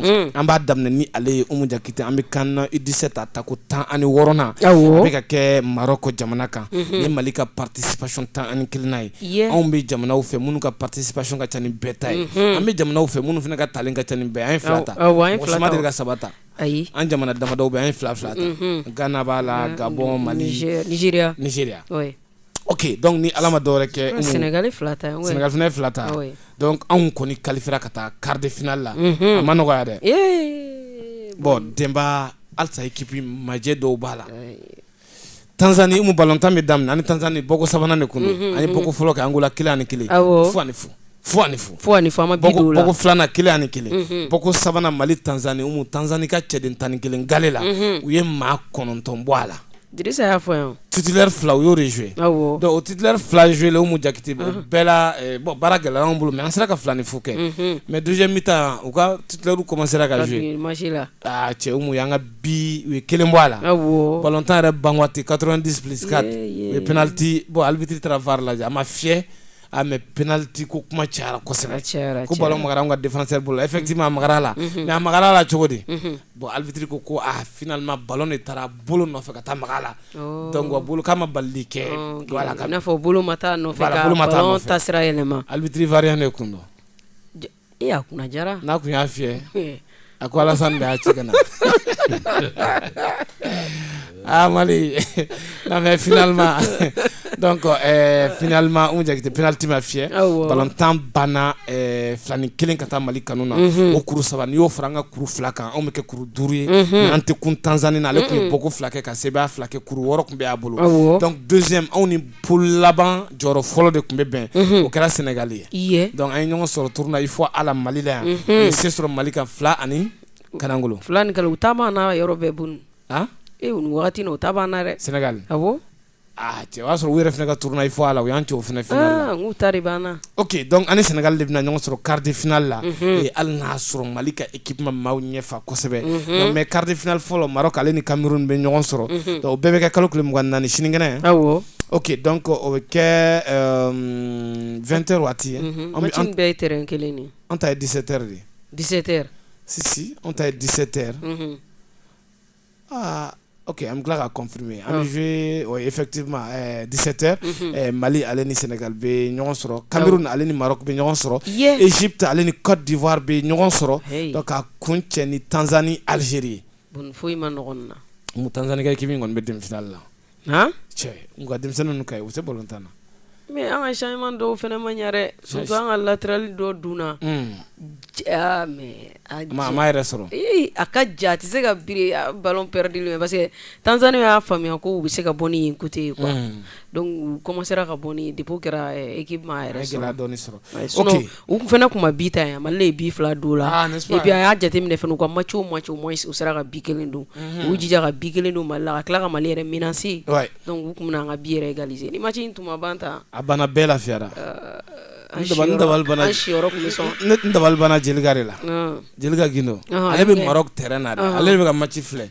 mm. an b'a daminɛ ni ale ye umu jakite an bɛ CAN na U dix-sept a tako tan ani wɔɔrɔnan bɛ ka kɛ Maroc jamana kan mhm. ni mali ka participation tan ani kelennan ye anw bɛ jamanaw fɛ minnu ka participation ka ca ni bɛɛ ta ye mhm. an bɛ jamanaw fɛ minnu fana ka talen ka ca ni bɛɛ an ye fila ta mɔgɔ ma deli ka saba ta ayi an jamana damadɔw bɛ an ye fila fila ta mhm. gana b'a la gabɔn mali Nigeria ok donc ni Ala ma dɔwɛrɛ kɛ Umu, Senegal ye fila ta ye, Senegal fana ye fila ta, oui, donc anw kɔni qualifiera ka taa quart de finale la, unhun, a ma nɔgɔya dɛ, ee, bon Denba halisa équipe ma jɛ dɔw b'a la, ayi, Tanzanie Umu ballon tan bɛ daminɛ an ni Tanzanie bɔko sabanan de tun don, unhun, an ye bɔko fɔlɔ kɛ Angola kelen ani kelen, awɔ, fu ani fu fu ani fu fu ani fu an ma bi don o la bɔko filanan kelen ani kelen mhm. bɔko sabanan mali tanzani umu tanzani ka cɛden tan ni kelen gale la mhm. u ye maa kɔnɔntɔn bɔ a la dirisa y'a fɔ yan titulaire fila u y'o de joué donc o titulaire fila joué la umu jakite mhm. bɛɛ la eh, bon baara gɛlɛyara anw bolo mais an sera ka fila ni fu kɛ mais deuxième mi-temps u ka titulaire commencera ka joué ah cɛ umu y'an ka bi u ye kelen bɔ a la ballon tan yɛrɛ ban waati 90 plus 4 u ye penalty bon arbitre taara var lajɛ a ma fiyɛ ah, mais penalty ko kuma cayara kosɛbɛ, a cayara, a cayara, ko ballon magara anw ka défenseur bolo la effectivement a magara a la, unhun, mais a magara a la cogo di, unhun, bon arbitre ko ko ah finalement ballon de taara bolo nɔfɛ ka taa maga a la, ɔɔ, donc wa bolo k'a ma balili kɛ, ɔɔ, voilà, i n'a fɔ bolo ma taa a nɔfɛ, voilà, ka ballon taasira yɛlɛma, arbitre ivoirien de tun don. Ee a kunna diyara n'a tun y'a fiyɛ Ee. a ko Alassane de y'a ci ka na ah Mali non mais finalement donc euh, finalement Umu Jakite penalty ma fiyɛ Awɔ. ballon tan banna euh, fila ni kelen ka taa Mali kanu na Mhm. o kuru saba n'i y'o fara an ka kuru fila kan anw bɛ kɛ kuru duuru ye Mhm. mais an tɛ kun Tanzanie na ale tun ye Mhm. bɔko fila kɛ ka sebaaya fila kɛ kuru wɔɔrɔ tun bɛ a bolo Awɔ. donc deuxième anw ni poule laban jɔyɔrɔ fɔlɔ de tun bɛ bɛn o kɛra sɛnɛgali ye dɔnku an ye ɲɔgɔn sɔrɔ tournoi UFOA la mali la yan u ye se sɔrɔ mali kan fila ani kalankolon filan u ta b'an na yɔrɔ bɛɛ bon nin wagati u ta b'an na dɛ sɛnɛgali a cɛ o y'a sɔrɔ u yɛrɛ fana ka tournoi UFOA la u y'an cɛ o fana finale la u ta b'an na Oke donc an ni Senegal de bɛna ɲɔgɔn sɔrɔ quart de finale la hali n'a sɔrɔ mali ka équipe ma maaw ɲɛ fa kosɛbɛ nka mais quart de finale fɔlɔ Maroc ale ni Cameroun bɛ ɲɔgɔn sɔrɔ o bɛɛ bɛ kɛ kalo tile mugan naani sinikɛnɛ oke donc o bɛ kɛ 20 heures waati ye bɛɛ kelen an ta ye 17 heures de ye 17 heures si si an ta ye 17 heures aa ok an bɛ tila ka confirmer an bɛ jouer ɔ effectivement ɛɛ 17 heures unhun, ɛ Mali ale ni Senegal bɛ ɲɔgɔn sɔrɔ, awɔ, Cameroun ale ni Maroc bɛ ɲɔgɔn sɔrɔ, ye, Egypte ale ni Cote d'Ivoire bɛ ɲɔgɔn sɔrɔ, heyi, donc k'a kuncɛ ni Tanzanie Algerie ye, bon nin foyi ma nɔgɔ nin na, Tanzanie ka équipe in kɔni bɛ demi finale la cɛ u ka denmisɛnnin ka u tɛ balo tan na mɛ an ka sima dɔw fana ma ɲɛ su an ka latrali dɔ dun mɛ yɛrɛ sɔrɔ a ka ja tɛ se ka bi baloɛdi parce que tansanni y'a faamuya ko u bɛ se ka bɔ ni kote yen kɔ dɔnku kɔma sera ka bɔ de kɛra eki yɛrɛ sɔrɔ u fana tun ma bi ta yan mali ye bi fila don u la et puis a y'a jateminɛ fana u ka match o match au moins u sera ka bi kelen don u jija ka bi kelen don mali la ka tila ka mali yɛrɛ menacer donc u tun bɛna an ka bi yɛrɛ égaliser ni match in tun ma ban ta a banna bɛɛ lafiyara Jelika de la Jelika Gindo ale bɛ Maroc terrain na ale bɛ ka match filɛ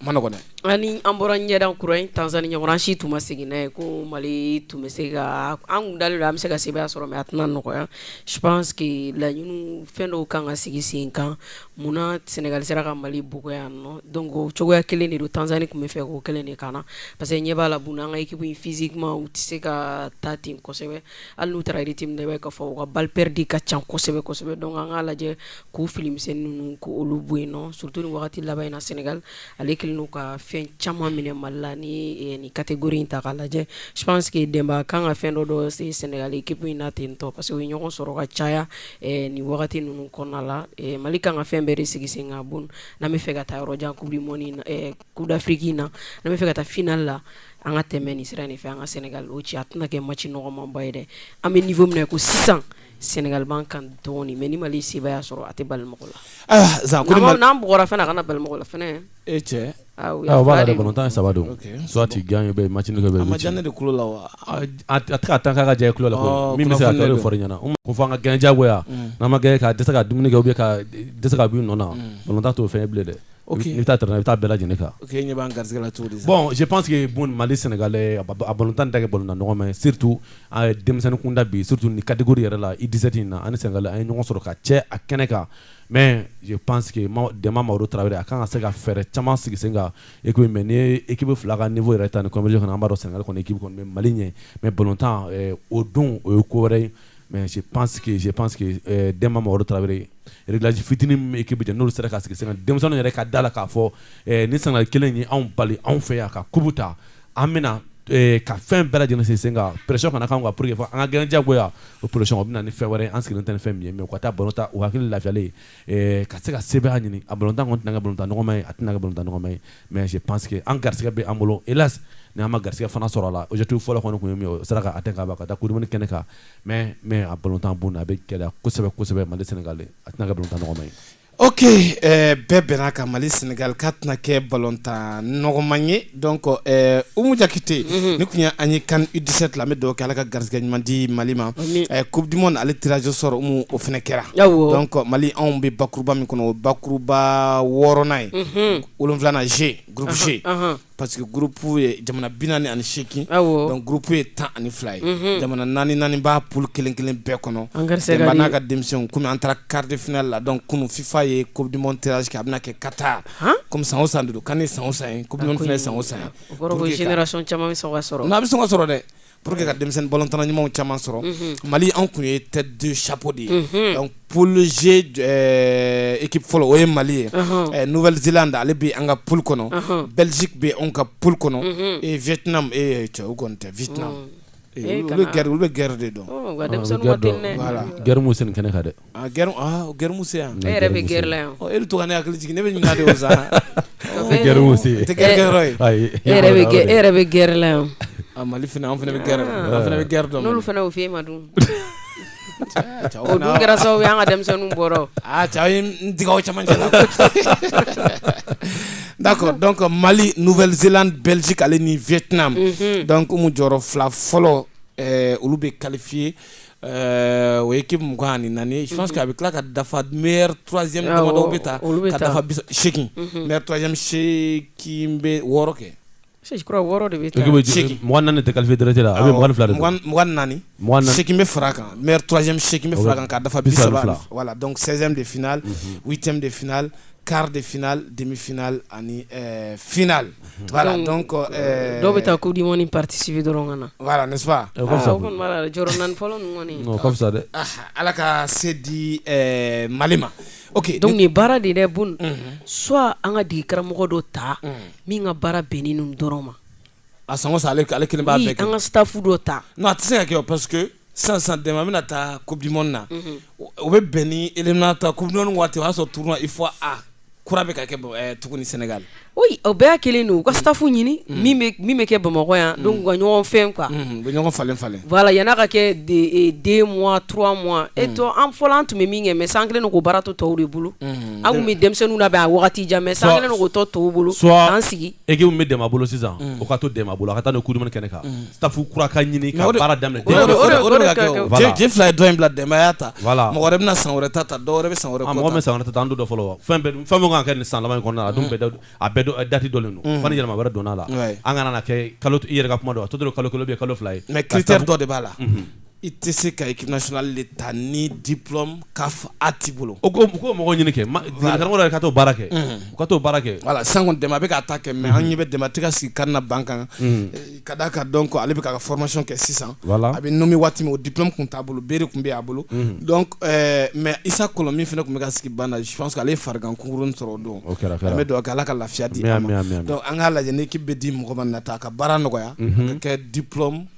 man nɔgɔn dɛ ani an bɔra ɲɛda kura in Tanzanie ɲɔgɔn an si tun ma sigi n'a ye ko mali tun bɛ se ka an tun dalen don an bɛ se ka sebaya sɔrɔ mais a tɛna nɔgɔya je pense que laɲini fɛn dɔw kan ka sigi sen kan munna Sénégal sera ka mali bugɔ yan nɔ donc o cogoya kelen de don Tanzanie tun b'a fɛ k'o kelen de kɛ an na parce que ɲɛ b'a la bon an ka équipe in physiquement u tɛ se ka taa ten kosɛbɛ hali n'u taara rythme na i b'a ye k'a fɔ u ka balle perdue ka ca kosɛbɛ kosɛbɛ donc an k'a lajɛ k'u fili misɛnnin ninnu k'olu bɔ yen nɔ surtout nin wagati laban in na Senegal ale kɛlen don ka fɛn caman minɛ Mali la n'i ye nin catégorie in ta k'a lajɛ je pense que Denba a ka kan ka fɛn dɔ dɔn Senegal équipe in na ten tɔ parce que u ye ɲɔgɔn sɔrɔ ka caya nin wagati ninnu kɔnɔna la Mali ka kan ka fɛn bɛɛ de sigi sen kan bon n'an bɛ fɛ ka taa yɔrɔ jan coupe du monde in na Coupe d'Afrique in na n'an b'a fɛ ka taa finale la an ka tɛmɛ nin sira in fɛ an ka Sénégal o ci a tɛna kɛ match nɔgɔmanba ye dɛ an bɛ niveau min na ko sisan Sénégal b'an kan dɔɔnin mais ni mali ye sebaya sɔrɔ a tɛ bala mɔgɔ la n'an bugɔra fana a kana bala mɔgɔ la e ballontan saba don soit i gagner bɛ ma ne de la wa a taa ka jɛ ku la min bɛ se ɲɛna ko fɔ an ka gagner jagoya n'an ma gagner ka dɛsɛ ka dumuni kɛ bɛ ka dɛsɛ ka sunɔgɔ ballontan t'o fɛ bilen dɛ Bɛ taa i taa bɛɛ lajɛlen kan bon je pense que bon mali Sénégal a ballontan dagɛ bolo na ɲɔgɔn mais surtout denmisɛnninkunda bi surtout nin catégorie yɛrɛ la U dix-sept in na ani Sénégal an ye ɲɔgɔn sɔrɔ ka caya kɛnɛ kan mais je pense que Demba mamadu tarawele a kan ka se ka fɛɛrɛ caman sigi sen kan e mais ni équipe fila ka niveau yɛrɛ ta ni comme je connais an b'a dɔn Sénégal kɔni bɛ mali ɲɛ mais ballontan o don o ye ko wɛrɛ ye mais je pense que je pense que euh, Demba Mamadou Traoré réglage fitinin min bɛ équipe jɛ n'olu sera ka sigi sen kan denmisɛnninw yɛrɛ ka da a la k'a fɔ euh, ni Sénégal kelen ye anw bali anw fɛ yan ka coupe ta an bɛna euh, ka fɛn bɛɛ lajɛlen sigi sen kan pression kana k'an kan pour que fɔ an ka gagner jagoya o pression o bɛ na ni fɛn wɛrɛ ye an sigilen tɛ ni fɛn min ye mais u ka taa ballon tan u hakili lafiyalen ka se ka se ɲini a bolo tɛna ka bolo nɔgɔma ye a tɛna ka bolo nɔgɔma ye mɛ pa que an garigɛ bɛ an bolo e la ni an ma garigɛ fana sɔrɔ a la otu fɔlɔ kɔnɔ tun ye sera ka' tɛ k'a ka taa kuruuni kɛnɛ kan mɛ mɛ a bolo tan bon a bɛ gɛlɛya kosɛbɛ kosɛbɛ mali sen a tɛna ka bolo nɔgɔma ye oke bɛɛ bɛn ka mali senka ka tɛna kɛ balotan nɔgɔma ye Donc Umu Jakite nin tun y' an ye CAN U dix-sept la an bɛ dugawu kɛ Ala ka garisɛgɛ ɲuman di mali ma coupe du monde ale tirage au sort Umu o fana kɛra donc Mali anw bɛ bakuruba min kɔnɔ bakuruba wɔɔrɔnan ye wolonwulanan G groupe G parce que groupe ye jamana bi naani ani seegin donc groupe ye tan ani fila ye jamana naani naani b'a poule kelen kelen bɛɛ kɔnɔ Demba n'a ka denmisɛnw kɔmi an taara quart de finale la donc kunun FIFA ye coupe du monde tirage kɛ a bɛna kɛ Qatar kɔmi san san duuru kan ni san san kɔmi fana san san caman sɔrɔ n' bɛ sɔn ka sɔrɔ dɛ pour que ka denmisɛnnin bɔ tan ɲumanw caman sɔrɔ mali anw tun ye tɛ don sabu de ye pze eki fɔlɔ o ye mali ye npzse da ale bɛ an ka p kɔnɔ bɛsi bɛ anw ka p kɔnɔ e vtina e cɛw kɔni tɛ vtina g olu bɛ gɛrɛ de dɔn gɛrɛmu sen kɛnɛ ka dɛ A g gmu se yan ne yɛrɛ bɛ g la yan e bɛ to ne hakili jigin ne bɛ ɲininka de sa g yɛrɛ bɛ g la yan a mali fana an fana bɛ g fana bɛ g dɔn olu fana o f e ma dun kɛra sababu y' ka denmisɛnnin bɔra n caman n'a dɔn ka mali n vlz bɛsi ale ni vt dɔn ko jɔyɔrɔ fila fɔlɔ olu bɛ kalifa ye Euh, o ye équipe mugan ani naani je pense que a bɛ tila ka dafa meilleur troisième Awɔ, damadɔw bɛ ta olu bɛ ka ta. dafa bisa- seegin Mhm. meilleur troisième seegin bɛ wɔɔrɔ kɛ Je crois wɔɔrɔ de bɛ taa. Équipe bɛ jigin- mɔgɔ naani de tɛ qualifier direct la, a bɛ mɔgɔ ni fila de don. mugan mugan ni naani Mugan ni naani. seegin bɛ fara a kan meilleur troisième seegin bɛ Awɔ, fara a kan ka dafa bi saba bisa ni ani fila. fila. voilà donc 16e de finale huitième de finale quart de finale, demi-finale ani euh, finale. Mhm. Voilà, donc euh, euh, dɔw bɛ taa coupe du monde participer dɔrɔn ka na. Voilà, n'est-ce pas? Ah, o ka fisa. O kɔni b'a la dɛ, jɔyɔrɔ naani fɔlɔ ninnu kɔni. O ka fisa dɛ. Ah, Ala ka se di euh, Mali ma. ok donc nin baara de dɛ bon mhm. soit an ka degekaramɔgɔ dɔ ta mhm. min ka baara bɛnnen ninnu dɔrɔn ma a sango sa ale kelen b'a bɛɛ kɛ an ka staff dɔ ta non a tɛ se ka kɛ parce que san san Demba bɛna taa coupe du monde na mhm. o bɛ bɛn ni éliminatoire coupe du monde waati o y'a sɔrɔ tournoi UFOA kura bɛ ka kɛ eh, tuguni Sénégal oui o bɛɛ y'a kelen don u ka staff ɲini mhm. min bɛ min bɛ kɛ Bamakɔ yan mhm. donc u ka ɲɔgɔn fɛn quoi u bɛ ɲɔgɔn falen falen voilà yan'a ka kɛ eh, deux mois trois mois et to an fɔlɔ an tun bɛ min kɛ mais san kelen don k'o baara to tɔw de bolo an tun bɛ denmisɛnninw labɛn a wagati jan mais san kelen don k'o to tɔw bolo k'an sigi soit équipe min bɛ Demba bolo sisan o ka to Demba bolo a ka taa n'o ye coupe du monde kɛnɛ kan staff kura ka ɲini ka baara daminɛ o de bɛ ka kɛ je fila ye dɔ in bila Demba y'a ta voilà mɔgɔ wɛrɛ bɛna san wɛrɛ ta ta dɔw wɛrɛ bɛ san wɛrɛ mɔgɔ bɛ san wɛrɛ ta an dɔ fɔlɔ fɛn o fɛn min ka kan ka kɛ nin san laban in kɔnɔna a dun bɛɛ a bɛɛ date dɔnnen don fo ni yɛlɛma wɛrɛ donna a la an kana kɛ kalo i yɛrɛ ka kuma don a tɔ tora kalo kelen kalo fila ye mais critère dɔ de b'a la i tɛ se ka équipe nationale de ta ni diplôme CAF A t'i bolo, u k'o mɔgɔw ɲini kɛ, karamɔgɔ yɛrɛ ka t'o baara kɛ, u ka t'o baara kɛ, voilà sisan kɔni Demba bɛ k'a ta kɛ mais an ɲɛ bɛ Demba tɛ ka sigi kan na banc kan ka d'a kan donc ale bɛ k'a ka formation kɛ sisan, voilà a bɛ nommé waati min o diplôme tun t'a bolo B de tun bɛ a bolo donc mais Isa Kɔlɔn min fana tun bɛ ka sigi banc na je pense que ale ye farigan kunkuruni sɔrɔ o don, o kɛra, an bɛ dugawu kɛ Ala ka lafiya di a ma, ami, ami, donc an k'a lajɛ ni équipe bɛ di mɔgɔ ma n'a ta a ka baara nɔgɔya a ka kɛ diplôme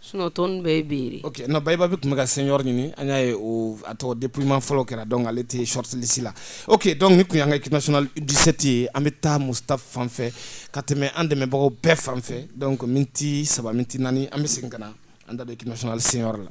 Sunt bɛ bi o na baba bɛ tun bɛ ka sen yɔrɔ ɲini an y'a ye o a tɔgɔ dima fɔlɔ kɛra dɔn ale tɛ sɔrɔtlisi la o que dɔn ni tun an ka kima disɛti ye an bɛ taa muta fan ka tɛmɛ an dɛmɛbagaw bɛɛ fan dɔn min tɛ saba min naani an bɛ segin ka na an da kima senyɔrɔ la